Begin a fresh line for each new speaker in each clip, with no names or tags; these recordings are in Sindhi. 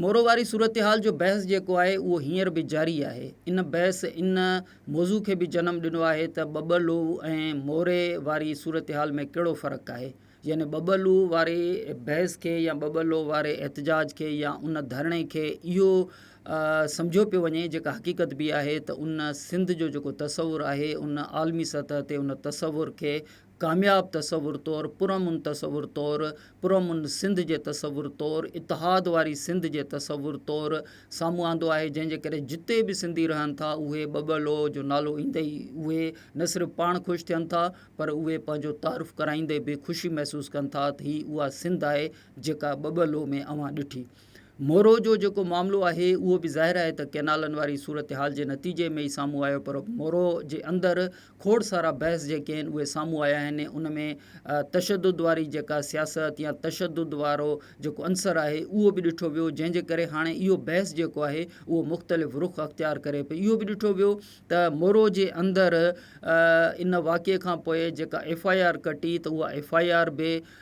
مورو واري صورتحال جو بحث جيڪو آهي اهو هينئر به جاري آهي. ان بحث ان موضوع کي به جنم ڏنو آهي ته ٻٻلو ۽ موري واري صورتحال ۾ ڪهڙو فرق آهي. يعني ٻٻلو واري بحث کي يا ٻٻلو واري احتجاج کي يا ان ڌرڻي کي اهو سمجهيو پيو وڃي جيڪا حقيقت به آهي ته ان سنڌ جو جيڪو تصور آهي ان عالمي سطح تي ان تصور کي ڪامياب تصور طور، پرامن تصور طور، پرامن سنڌ جي تصور طور، اتحاد واري سنڌ جي تصور طور سامهون آندو آهي جنهن جي ڪري جتي به سنڌي رهن ٿا اهي ٻه ٻه لوء جو نالو ايندي ئي اهي نه صرف پاڻ خوش ٿين ٿا پر اهي پنهنجو تعارف ڪرائيندي به خوشي محسوس ڪن ٿا ته هي اها سنڌ آهي جيڪا ٻه ٻه لوء ۾ اوهان ڏٺي مورو جو جيڪو معاملو آهي اهو به ظاهر آهي ته ڪئنالن واري صورتحال جي نتيجي ۾ ئي سامهون آيو پر مورو جي اندر کوڙ سارا بحث جيڪي آهن اهي سامهون آيا آهن ان ۾ تشدد واري جيڪا سياست يا تشدد وارو جيڪو عنصر آهي اهو به ڏٺو ويو جنهن جي ڪري هاڻي اهو بحث جيڪو آهي اهو مختلف رخ اختيار ڪري پئي اهو به ڏٺو ويو ته مورو جي اندر ان واقعي کانپوء جيڪا ايف آء آر ڪٽي ته اها ايف آء آر به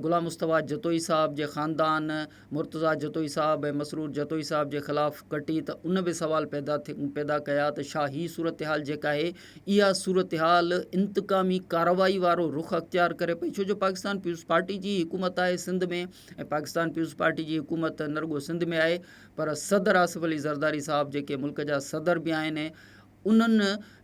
غلام مصطفيٰ جتوئي صاحب جي خاندان مرتضيٰ جتوئي صاحب ۽ مسرور جتوئي صاحب جي خلاف ڪٽي ته ان به سوال پيدا ڪيا ته شا هي صورتحال جيڪا آهي اها صورتحال انتقامي ڪارروائي وارو رخ اختيار ڪري پئي ڇو جو پاڪستان پيپلز پارٽي جي حڪومت آهي سنڌ ۾ ۽ پاڪستان پيپلز پارٽي جي حڪومت نه رڳو سنڌ ۾ آهي پر صدر آصف علي زرداري صاحب جيڪي ملڪ جا صدر به آهن انهن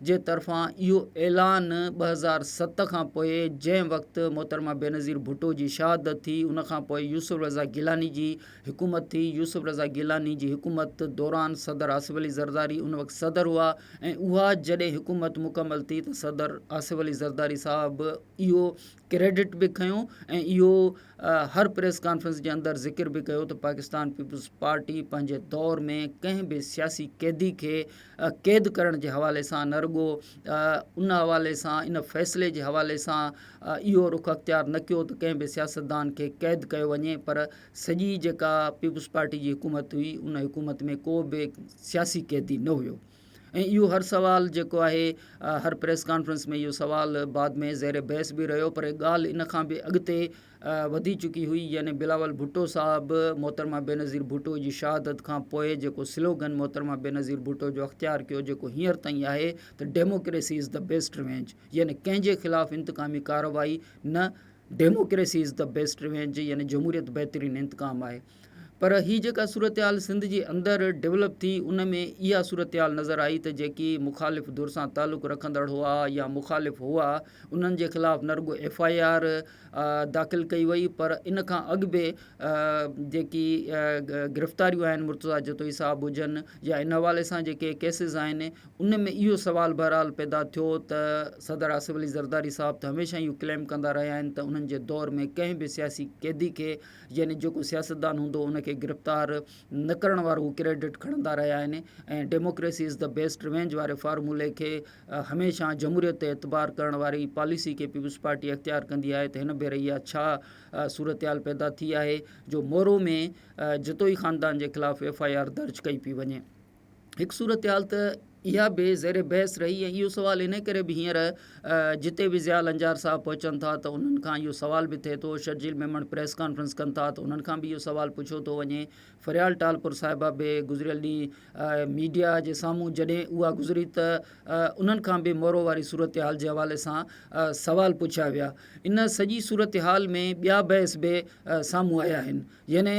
جي طرفان اهو اعلان ٻه هزار ست کان پوء جنهن وقت محترمه بينظير ڀٽو جي شهادت ٿي ان کان پوء يوسف رضا گيلاني جي حڪومت ٿي يوسف رضا گيلاني جي حڪومت دوران صدر آصف علي زرداري ان وقت صدر هئا ۽ اها جڏهن حڪومت مڪمل ٿي ته صدر آصف علي زرداري صاحب اهو ڪريڊٽ به کنيو ۽ اهو هر پريس ڪانفرنس جي اندر ذڪر به ڪيو ته پاڪستان پيپلز پارٽي پنهنجي دور ۾ ڪنهن به سياسي قيدي کي قيد ڪرڻ جي حوالي سان نه رڳو ان حوالي سان ان فيصلي جي حوالي سان اهو رخ اختيار نه ڪيو ته ڪنهن به سياستدان کي قيد ڪيو وڃي پر سڄي جيڪا پيپلز پارٽي جي حڪومت هئي ان حڪومت ۾ ڪو به سياسي قيدي نه هيو ۽ اهو هر سوال جيڪو آهي هر پريس ڪانفرنس ۾ اهو سوال بعد ۾ زير بحث به رهيو پر ڳالهه ان کان به اڳتي وڌي چڪي هئي يعني بلاول ڀٽو صاحب محترمه بينظير ڀٽو جي شهادت کان پوء جيڪو سلوگن محترمه بينظير ڀٽو جو اختيار ڪيو جيڪو هينئر تائين آهي ته democracy is the best revenge يعني ڪنهن جي خلاف انتقامي ڪارروائي نه democracy is the best revenge يعني جمهوريت بهترين انتقام آهي. پر هي جيڪا صورتحال سنڌ جي اندر ڊولپ ٿي ان ۾ اها صورتحال نظر آئي ته جيڪي مخالف ڌر سان تعلق رکندڙ هئا يا مخالف هئا انهن جي خلاف نه رڳو ايف آء آر داخل ڪئي وئي پر ان کان اڳ به جيڪي گرفتاريون آهن مرتضيٰ جتوئي صاحب هجن يا ان حوالي سان جيڪي ڪيسز آهن ان ۾ اهو سوال بهرحال پيدا ٿيو ته صدر آصف علي زرداري صاحب ته هميشه اهو ڪليم ڪندا رهيا آهن ته انهن جي دور ۾ ڪنهن به سياسي قيدي کي يعني جيڪو سياستدان هوندو ان کي گرفتار نه ڪرڻ وارو ڪريڊٽ کڻندا رهيا آهن ۽ democracy is the best revenge واري فارمولي کي هميشه جمهوريت تي اعتبار ڪرڻ واري پاليسي کي پيپلز پارٽي اختيار ڪندي آهي ته هن ڀيري اها ڇا صورتحال پيدا ٿي آهي جو مورو ۾ جتوئي خاندان جي خلاف ايف آء آر درج ڪئي پئي وڃي. هڪ صورتحال ته اها به زير بحث رهي ۽ اهو سوال ان ڪري به هينئر جتي به ضياء لنجار صاحب پهچن ٿا ته انهن کان اهو سوال به ٿئي ٿو شرجيل ميمڻ پريس ڪانفرنس ڪن ٿا ته انهن کان به اهو سوال پڇيو ٿو وڃي فريال ٽالپر صاحبه به گذريل ڏينهن ميڊيا جي سامهون جڏهن اها گذري ته انهن کان به مورو واري صورتحال جي حوالي سان سوال پڇيا ويا ان سڄي صورتحال ۾ ٻيا بحث به سامهون آيا آهن يعني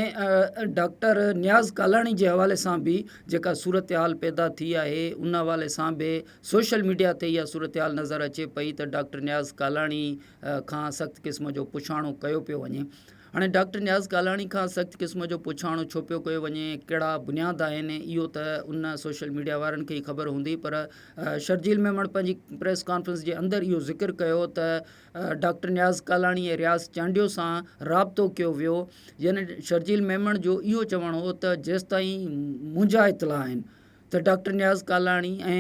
ڊاڪٽر نياز ڪالاڻي جي حوالي سان به جيڪا صورتحال پيدا ٿي آهي ان حوالي سان به سوشل ميڊيا تي اها صورتحال نظر اچي پئي ته ڊاڪٽر نياز ڪالاڻي کان سخت قسم جو پڇاڻو ڪيو پيو وڃي هاڻي ڊاڪٽر نياز ڪالاڻي کان سخت قسم جو پڇاڻو ڇو پيو ڪيو وڃي ڪهڙا بنياد آهن اهو ته ان سوشل ميڊيا وارن کي ئي خبر هوندي پر شرجيل ميمڻ پنهنجي پريس ڪانفرنس جي اندر اهو ذڪر ڪيو ته ڊاڪٽر نياز ڪالاڻي ۽ رياض چانڊيو سان رابطو ڪيو ويو جنھن شرجيل ميمڻ جو اھو چوڻ ھو ته جيستائين منھنجا اطلاع آھن ته ڊاڪٽر نياز ڪالاڻي ۽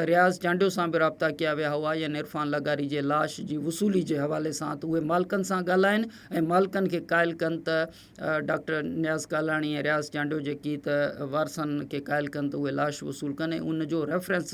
رياض چانڊيو سان به رابطا ڪيا ويا ھئا يعني عرفان لغاري جي لاش جي وصولي جي حوالي سان ته اھي مالڪن سان ڳالھائن ۽ مالڪن کي قائل ڪن ته ڊاڪٽر نياز ڪالاڻي ۽ رياض چانڊيو جيڪي ته وارثن کي قائل ڪن ته اھي لاش وصول ڪن ۽ ان جو ريفرنس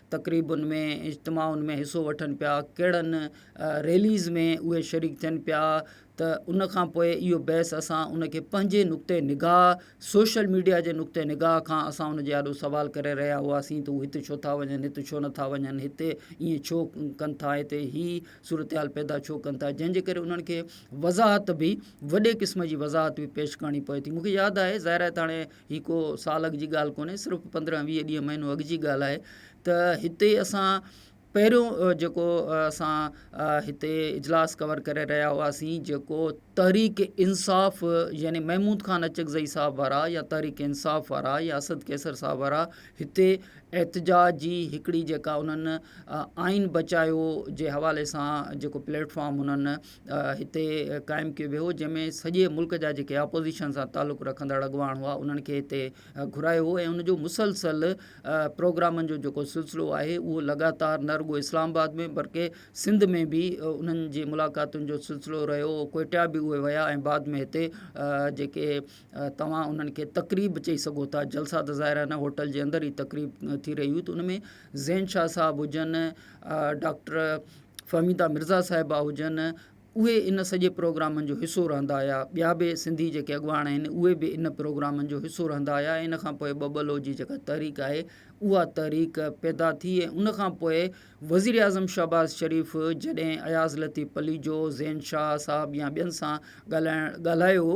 تقريبن ۾ اجتماعن ۾ حصو وٺن پيا ڪهڙن ريليز ۾ اهي شريڪ ٿين پيا ته ان کان پوء اهو بحث اسان ان کي پنهنجي نقطه نگاهه سوشل ميڊيا جي نقطه نگاهه کان اسان ان جي آڏو سوال ڪري رهيا هئاسين ته هو هت ڇو ٿا وڃن هت ڇو نٿا وڃن هتي ائين ڇو ڪن ٿا هتي هي صورتحال پيدا ڇو ڪن ٿا جنهن جي ڪري انهن کي وضاحت به وڏي قسم جي وضاحت به پيش ڪرڻي پوي ٿي مون کي ياد آهي ظاهر آهي ته هاڻي هي ڪو سال اڳ جي ڳالهه ڪونهي صرف پندرهن ويهه ڏينهن مهينو اڳ جي ڳالهه آهي ته هتي اسان پهريون جيڪو اسان هتي اجلاس ڪور ڪري رهيا هئاسين جيڪو تحريڪ انصاف يعني محمود خان اچڪزئي صاحب وارا يا تحريڪ انصاف وارا يا اسد قيصر صاحب وارا هتي احتجاج جي هڪڙي جيڪا انهن آئين بچايو جي حوالي سان جيڪو پليٽ فارم انهن هتي قائم ڪيو ويو جنهن ۾ سڄي ملڪ جا جيڪي اپوزيشن سان تعلق رکندڙ اڳواڻ هئا انهن کي هتي گهرايو هو ۽ ان جو مسلسل پروگرامن جو جيڪو سلسلو آهي اهو لڳاتار نه رڳو اسلام آباد ۾ بلڪه سنڌ ۾ به انهن جي ملاقاتن جو سلسلو رهيو ڪوئٽا به اهي ويا ۽ بعد ۾ هتي جيڪي توهان انهن کي تقريب چئي سگهو ٿا جلسا ته ظاهر آهن هوٽل جي اندر ئي تقريب ٿي رهي هئي ته ان ۾ زين شاهه صاحب هجن ڊاڪٽر فهميده مرزا صاحبه هجن اهي ان سڄي پروگرامن جو حصو رهندا هيا ٻيا به سنڌي جيڪي اڳواڻ آهن اهي به ان پروگرامن جو حصو رهندا هيا ان کان پوء ٻه ٻه لو جي جيڪا تحريڪ آهي اها تحريڪ پيدا ٿي ۽ ان کان پوء وزير اعظم شهباز شريف جڏهن اياز لطيف پليجو زين شاهه صاحب يا ٻين سان ڳالهائڻ ڳالهايو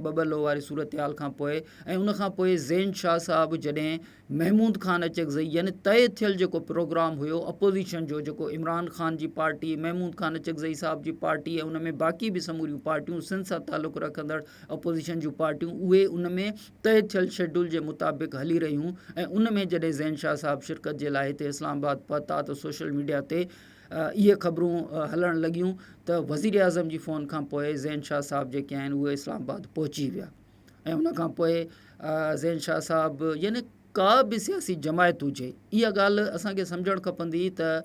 ٻه ٻه لو واري صورتحال کان پوء ۽ ان کان پوء زين شاهه صاحب جڏهن محمود خان اچڪزئي يعني طئي ٿيل جيڪو پروگرام هيو اپوزيشن جو جيڪو عمران خان جي پارٽي محمود خان اچڪزئي صاحب جي پارٽي ۽ ان ۾ باقي به سموريون پارٽيون سنڌ سان تعلق رکندڙ اپوزيشن جون پارٽيون اهي ان ۾ طئي ٿيل شيڊول جي مطابق هلي رهيون ۽ ان ۾ جڏهن زين شاهه صاحب شرڪت جي لاء هتي اسلام آباد پهتا ته سوشل ميڊيا تي اهي خبرون هلڻ لڳيون ته وزيراعظم جي فون کان پوء زين شاهه صاحب جيڪي آهن اهي اسلام آباد پهچي ويا ۽ ان کان پوء زين شاهه صاحب يعني ڪا به سياسي جماعت هجي اها ڳالهه اسانکي سمجهڻ کپندي ته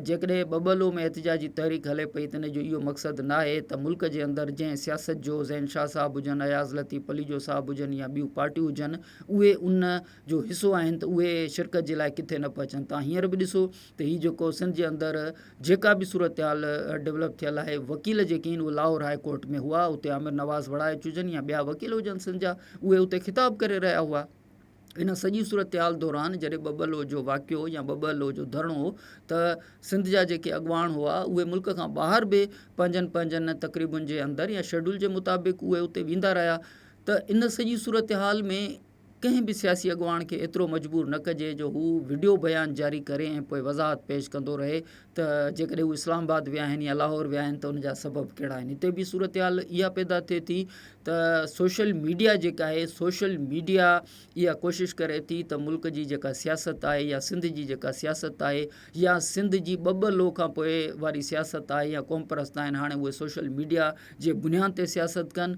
جيڪڏهن ٻٻلو ۾ احتجاجي تحريڪ هلي پئي ته ان جو اهو مقصد نه آهي ته ملڪ جي اندر جنهن سياست جو زين شاهه صاحب هجن اياز لطيف پليجو صاحب هجن يا ٻيون پارٽيون هجن اهي ان جو حصو آهن ته اهي شرڪت جي لاء ڪٿي نه پهچن تان هينئر به ڏسو ته هي جيڪو سنڌ جي اندر جيڪا به صورتحال ڊولپ ٿيل آهي وڪيل جيڪي آهن اهي لاهور هاء ڪورٽ ۾ هئا اتي عامر نواز وڙائي چجن يا ٻيا وڪيل هجن سنڌ جا اهي اتي خطاب ڪري رهيا هئا ان سڄي صورتحال دوران جڏهن ٻه ٻه لو جو واقعو يا ٻه ٻه لو جو ڌرڻو هو ته سنڌ جا جيڪي اڳواڻ هئا اهي ملڪ کان ٻاهر به پنهنجن پنهنجن تقريبن جي اندر يا شيڊول جي مطابق اهي اتي ويندا رهيا ته ان سڄي صورتحال ۾ ڪنهن به سياسي اڳواڻ کي ايترو مجبور نه ڪجي جو هو وڊيو بيان جاري ڪري ۽ پوء وضاحت پيش ڪندو رهي ته جيڪڏهن هو اسلام آباد ويا آهن يا لاهور ويا آهن ته ان جا سبب ڪهڙا آهن. هتي ٻي صورتحال اها پيدا ٿئي ٿي ته سوشل ميڊيا جيڪا آهي سوشل ميڊيا اها ڪوشش ڪري ٿي ته ملڪ جي جيڪا سياست آهي يا سنڌ جي جيڪا سياست آهي يا سنڌ جي ٻه ٻه لو کان پوء واري سياست آهي يا قوم پرست آهن هاڻي اهي سوشل ميڊيا جي بنيان تي سياست ڪن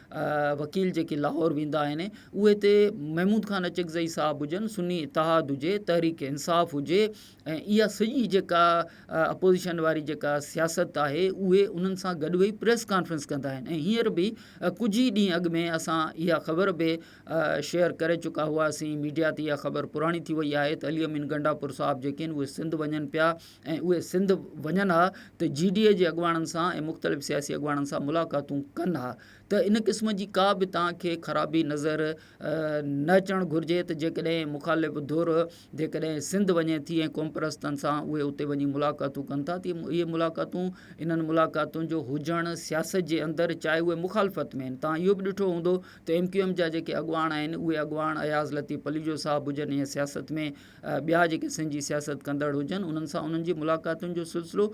وڪيل جيڪي لاهور ويندا آهن اهي تي محمود خان اچڪزئي صاحب هجن سني اتحاد هجي تحريڪ انصاف هجي ۽ اها سڄي جيڪا اپوزيشن واري جيڪا سياست آهي اهي انهن سان گڏ ويهي پريس ڪانفرنس ڪندا آهن ۽ هينئر به ڪجهه ئي ڏينهن اڳ ۾ اسان اها خبر به شيئر ڪري چڪا هئاسين ميڊيا تي اها خبر پراڻي ٿي وئي آهي ته علي امين گنڊاپور صاحب جيڪي آهن اهي سنڌ وڃن پيا ۽ اهي سنڌ وڃن ها ته جي ڊي اي جي اڳواڻن سان ۽ مختلف سياسي اڳواڻن سان ملاقاتون ڪن ها ته ان قسم جي ڪا به توهان کي خرابي نظر نه اچڻ گهرجي ته جيڪڏهن مخالف ڌر جيڪڏهن سنڌ وڃي ٿي ۽ قومپرستن سان اهي اتي وڃي ملاقاتون ڪن ٿا ته اهي ملاقاتون انهن ملاقاتن جو هجڻ سياست جي اندر چاهي اهي مخالفت ۾ آهن توهان اهو به ڏٺو هوندو ته ايم ڪيو ايم جا جيڪي اڳواڻ آهن اهي اڳواڻ اياز لطيف پليجو صاحب هجن يا سياست ۾ ٻيا جيڪي سنڌ جي سياست ڪندڙ هجن انهن سان انهن جي ملاقاتن جو سلسلو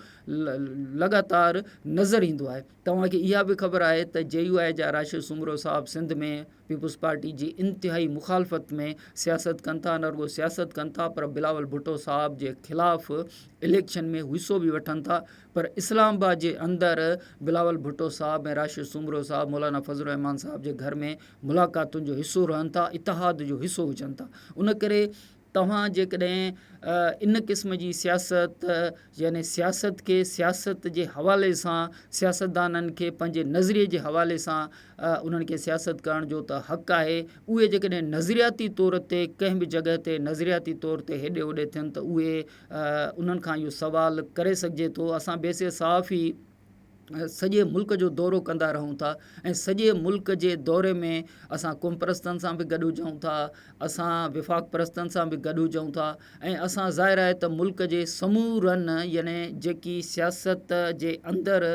لڳاتار نظر ايندو آهي توهان کي اها به خبر آهي ته جي يو آء جا راشد سومرو صاحب سنڌ ۾ پيپلز پارٽي جي انتهائي مخالفت ۾ سياست ڪن ٿا نه رڳو سياست ڪن ٿا پر بلاول ڀٽو صاحب جي خلاف اليڪشن ۾ حصو به وٺن ٿا پر اسلام آباد جي اندر بلاول ڀٽو صاحب ۽ راشد سومرو صاحب مولانا فضل الرحمان صاحب جي گهر ۾ ملاقاتن جو حصو رهن ٿا اتحاد جو حصو هجن ٿا ان ڪري توهان جيڪڏهن ان قسم جي سياست يعني سياست کي سياست جي حوالي سان سياستدانن کي پنهنجي نظري جي حوالي سان انهن کي سياست ڪرڻ جو ته حق آهي اهي جيڪڏهن نظرياتي طور تي ڪنهن به جڳهه تي نظرياتي طور تي هيڏي هوڏي ٿين ته اهي انهن کان اهو سوال ڪري سگهجي ٿو اسان بي سي صحافي سڄي ملڪ جو دورو ڪندا رهون ٿا ۽ سڄي ملڪ جي دوري ۾ اسان قوم پرستن سان به گڏ هجون ٿا اسان وفاق پرستن سان به گڏ هجون ٿا ۽ اسان ظاهر آهي ته ملڪ جي سمورن يعني جيڪي سياست جي اندر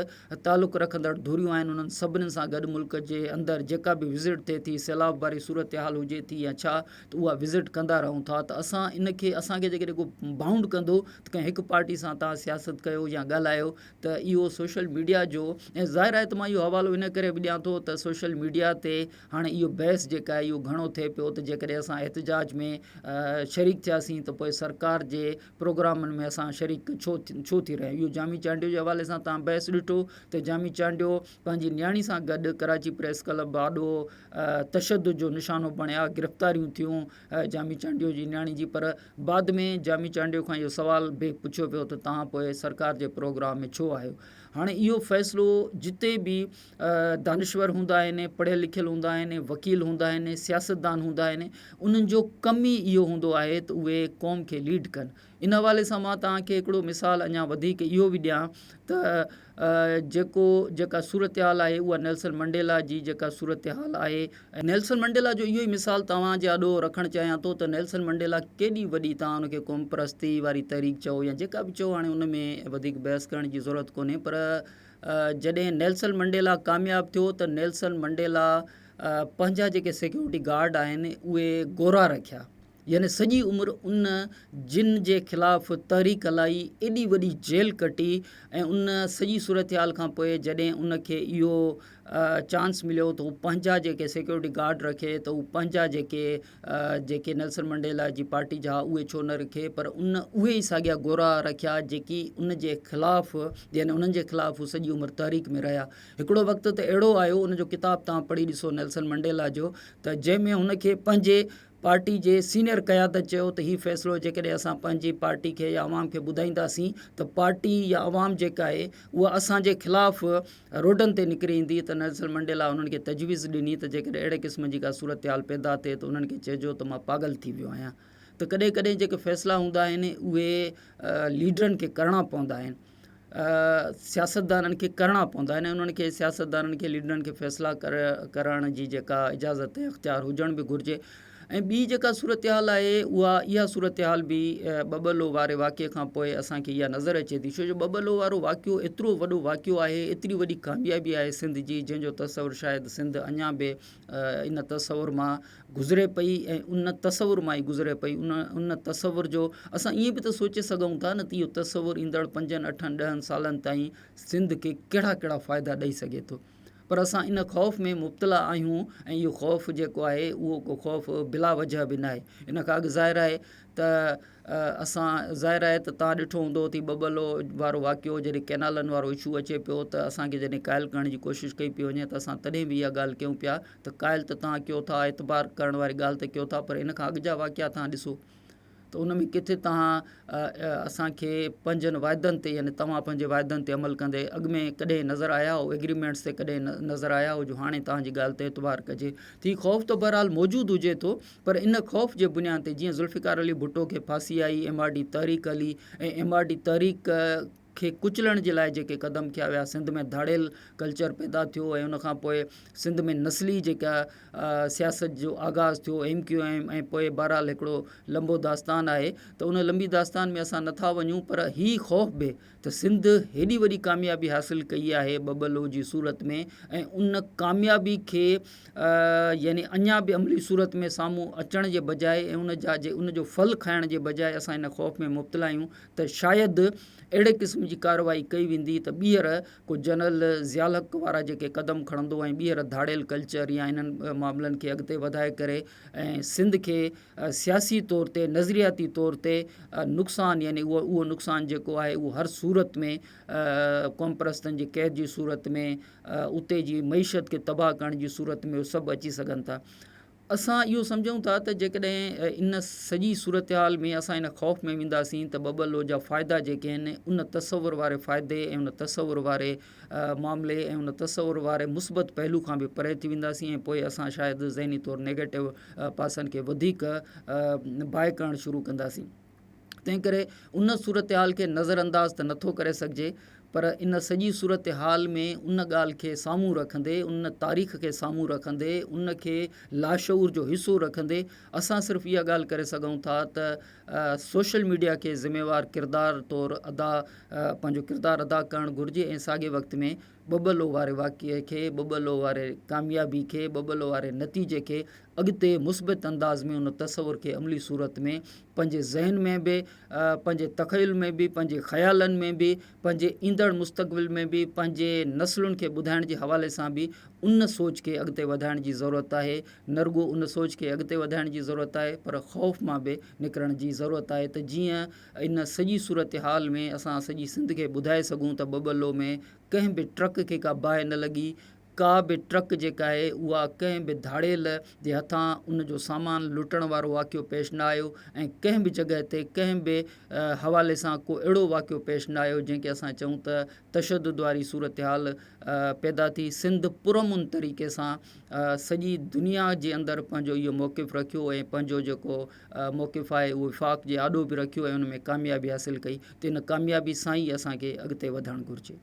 تعلق رکندڙ ڌريون آهن انهن سڀني سان گڏ ملڪ جي اندر جيڪا به وزٽ ٿئي ٿي سيلاب واري صورتحال هجي ٿي يا ڇا ته اها وزٽ ڪندا رهون ٿا ته اسان ان کي اسان کي جيڪڏهن ڪو بائونڊ ڪندو ته ڪنهن هڪ پارٽي سان تان سياست ڪيو يا ڳالهايو ته اهو سوشل ميڊيا جو ۽ ظاهر آهي ته مان اهو حوالو ان ڪري به ڏيان ٿو ته سوشل ميڊيا تي هاڻي اهو بحث جيڪا آهي اهو گهڻو ٿئي پيو ته جيڪڏهن اسان احتجاج ۾ شريڪ ٿياسين ته پوء سرڪار جي پروگرامن ۾ اسان شريڪ ڇو ڇو ٿي رهيا اهو جامي چانڊيو جي حوالي سان تان بحث ڏٺو ته جامي چانڊيو پنهنجي نياڻي سان گڏ ڪراچي پريس ڪلب آڏو تشدد جو نشانو بڻيا گرفتاريون ٿيون جامي چانڊيو جي نياڻي جي پر بعد ۾ جامي چانڊيو کان اهو سوال به پڇيو پيو ته توهان پوء سرڪار جي پروگرام ۾ ڇو آهيو هاڻي اهو فيصلو جتي به دانشور هوندا آهن پڙهيل لکيل هوندا آهن وڪيل هوندا آهن سياستدان هوندا آهن انهن جو ڪم ئي اهو هوندو آهي ته اهي قوم کي ليڊ ڪن ان حوالي سان مان توهان کي هڪڙو مثال اڃا وڌيڪ اهو به ڏيان ته جيڪو جيڪا صورتحال آهي اها نيلسن منڊيلا جي جيڪا صورتحال آهي ۽ نيلسن منڊيلا جو اهو ئي مثال توهان جي آڏو رکڻ چاهيان ٿو ته نيلسن منڊيلا ڪيڏي وڏي توهان ان کي قومپرستي واري تحريڪ چئو يا جيڪا به چئو هاڻي ان ۾ وڌيڪ بحث ڪرڻ جي ضرورت ڪونهي پر جڏهن نيلسن منڊيلا ڪامياب ٿيو ته نيلسن منڊيلا پنهنجا جيڪي سيڪيورٽي گارڊ آهن اهي گورا رکيا يعني سڄي عمر ان جن جي خلاف تحريڪ هلائي ايڏي وڏي جيل ڪٽي ۽ ان سڄي صورتحال کان پوء جڏهن ان کي اهو چانس مليو ته هو پنهنجا جيڪي سيڪيورٽي گارڊ رکي ته هو پنهنجا جيڪي جيڪي نيلسن منڊيلا جي پارٽي جا اهي ڇو نه رکي پر ان اهي ئي ساڳيا گورا رکيا جيڪي ان جي خلاف يعني انهن جي خلاف هو سڄي عمر تحريڪ ۾ رهيا هڪڙو وقت ته اهڙو آيو ان جو ڪتاب تان پڙهي ڏسو نيلسن منڊيلا جو ته جنهن ۾ هن کي پنهنجي پارٽي جي سينئر قيادت چيو ته هي فيصلو جيڪڏهن اسان پنهنجي پارٽي کي يا عوام کي ٻڌائينداسين ته پارٽي يا عوام جيڪا آهي اها اسان جي خلاف روڊن تي نڪري ايندي ته نيلسن منڊيلا انهن کي تجويز ڏني ته جيڪڏهن اهڙي قسم جي ڪا صورتحال پيدا ٿئي ته انهن کي چئجو ته مان پاڳل ٿي ويو آهيان ته ڪڏهن ڪڏهن جيڪي فيصلا هوندا آهن اهي ليڊرن کي ڪرڻا پوندا آهن. سياستدانن کي ڪرڻا پوندا آهن ۽ انهن کي سياستدانن کي ليڊرن کي فيصلا ڪرڻ جي جيڪا اجازت ۽ اختيار هجڻ به گهرجي ۽ ٻي جيڪا صورتحال آهي اها اها صورتحال به ٻٻلو واري واقعي کان پوء اسانکي اها نظر اچي ٿي ڇو جو ٻٻلو وارو واقعو ايترو وڏو واقعو آهي ايتري وڏي ڪاميابي آهي سنڌ جي جنهن جو تصور شايد سنڌ اڃان به ان تصور مان گذري پئي ۽ ان تصور مان ئي گذري پئي ان ان تصور جو اسان ائين به ته سوچي سگهون ٿا نه ته اهو تصور ايندڙ پنجن اٺن ڏهن سالن تائين سنڌ کي ڪهڙا ڪهڙا فائدا ڏئي سگهي ٿو پر اسان ان خوف ۾ مبتلا آهيون ۽ اهو خوف جيڪو آهي اهو ڪو خوف بلا وجه به ناهي ان کان اڳ ظاهر آهي ته اسان ظاهر آهي ته توهان ڏٺو هوندو اٿي ٻٻلو وارو واقعو جڏهن ڪئنالن وارو اشو اچي پيو ته اسان کي جڏهن قائل ڪرڻ جي ڪوشش ڪئي پيو وڃي ته اسان تڏهن به اها ڳالهه ڪيون پيا ته قائل ته توهان ڪيو ٿا اعتبار ڪرڻ واري ڳالهه ته ڪيو ٿا پر ان کان اڳ جا واقعا توهان ڏسو ته ان ۾ ڪٿي توهان اسان کي پنهنجن واعدن تي يعني توهان پنهنجي واعدن تي عمل ڪندي اڳ ۾ ڪڏهن نظر آيا هو ايگريمينٽس تي ڪڏهن نظر آيا هو جو هاڻي توهان جي ڳالهه تي اعتبار ڪجي ته هي خوف ته بهرحال موجود هجي ٿو پر ان خوف جي بنيان تي جيئن ذوالفقار علي ڀٽو کي ڦاسي آئي، ايم آر ڊي تحريڪ هلي ۽ ايم آر ڊي تحريڪ کي ڪچلڻ جي لاء جيڪي قدم کنيا ويا سنڌ ۾ ڌاڙيل ڪلچر پيدا ٿيو ۽ ان کان پوء سنڌ ۾ نسلي جيڪا سياست جو آغاز ٿيو ايم ڪيو ايم ۽ پوء بهرحال هڪڙو لنبو داستان آهي ته ان لنبي داستان ۾ اسان نٿا وڃون پر هي خوف به ته سنڌ هيڏي وڏي ڪاميابي حاصل ڪئي آهي ٻه ٻه لو جي صورت ۾ ۽ ان ڪاميابي کي يعني اڃا به عملي صورت ۾ سامهون اچڻ جي بجاء ۽ ان جا جي ان جو ڦل کائڻ جي بجاء اسان ان خوف ۾ مبتلا آهيون ته شايد اهڙي قسم جي ڪارروائي ڪئي ويندي ته ٻيهر ڪو جنرل ضياء الحق وارا جيڪي قدم کڻندو ۽ ٻيهر ڌاڙيل ڪلچر يا انهن معاملن کي اڳتي وڌائي ڪري ۽ سنڌ کي سياسي طور تي نظرياتي طور تي نقصان يعني اهو اهو نقصان جيڪو آهي اهو هر صورت ۾ قومپرستن جي قيد جي صورت ۾ اتي جي معيشت کي تباهه ڪرڻ جي صورت ۾ سڀ اچي سگهن ٿا اسان اهو سمجهون ٿا ته جيڪڏهن ان سڄي صورتحال ۾ اسان ان خوف ۾ وينداسين ته ٻه ٻه لو جا فائدا جيڪي آهن ان تصور واري فائدي ۽ ان تصور واري معاملي ۽ ان تصور واري مثبت پهلو کان به پري ٿي وينداسين ۽ پوء اسان شايد ذهني طور نيگيٽو پاسن کي وڌيڪ باهه ڪرڻ شروع ڪنداسين. تنهن ڪري ان صورتحال کي نظر انداز ته نٿو ڪري سگهجي پر ان سڄي صورتحال ۾ ان ڳالهه کي سامهون رکندي، ان تاريخ کي سامهون رکندي، ان کي لاشعور جو حصو رکندي اسان صرف اها ڳالهه ڪري سگهون ٿا ته سوشل ميڊيا کي ذميوار ڪردار طور ادا پنهنجو ڪردار ادا ڪرڻ گهرجي ۽ ساڳئي وقت ۾ ٻٻلو واري واقعي کي ٻٻلو واري ڪاميابي کي ٻٻلو واري نتيجي کي اڳتي مثبت انداز ۾ ان تصور کي عملي صورت ۾ پنهنجي ذهن ۾ به پنهنجي تخيل ۾ به پنهنجي خيالن ۾ به پنهنجي ايندڙ مستقبل ۾ به پنهنجي نسلن کي ٻڌائڻ جي حوالي سان به ان سوچ کي اڳتي وڌائڻ جي ضرورت آهي نه رڳو ان سوچ کي اڳتي وڌائڻ جي ضرورت آهي پر خوف مان به نڪرڻ جي ضرورت آهي ته جيئن ان سڄي صورتحال ۾ اسان سڄي سنڌ کي ٻڌائي سگهون ته ٻٻلو ۾ ڪنهن به ٽرڪ کي ڪا باهه نه لڳي ڪا به ٽرڪ جيڪا آهي اها ڪنهن به ڌاڙيل جي هٿان ان جو سامان لٽڻ وارو واقعو پيش نه آيو ۽ ڪنهن به جڳهه تي ڪنهن به حوالي سان ڪو اهڙو واقعو پيش نه آيو جنهن کي اسان چئون ته تشدد واري صورتحال پيدا ٿي سنڌ پرامن طريقي سان سڄي دنيا جي اندر پنهنجو اهو موقف رکيو ۽ پنهنجو جيڪو موقف آهي اهو وفاق جي آڏو به رکيو ۽ ان ۾ ڪاميابي حاصل ڪئي ته ان ڪاميابي سان ئي اسانکي اڳتي وڌڻ گهرجي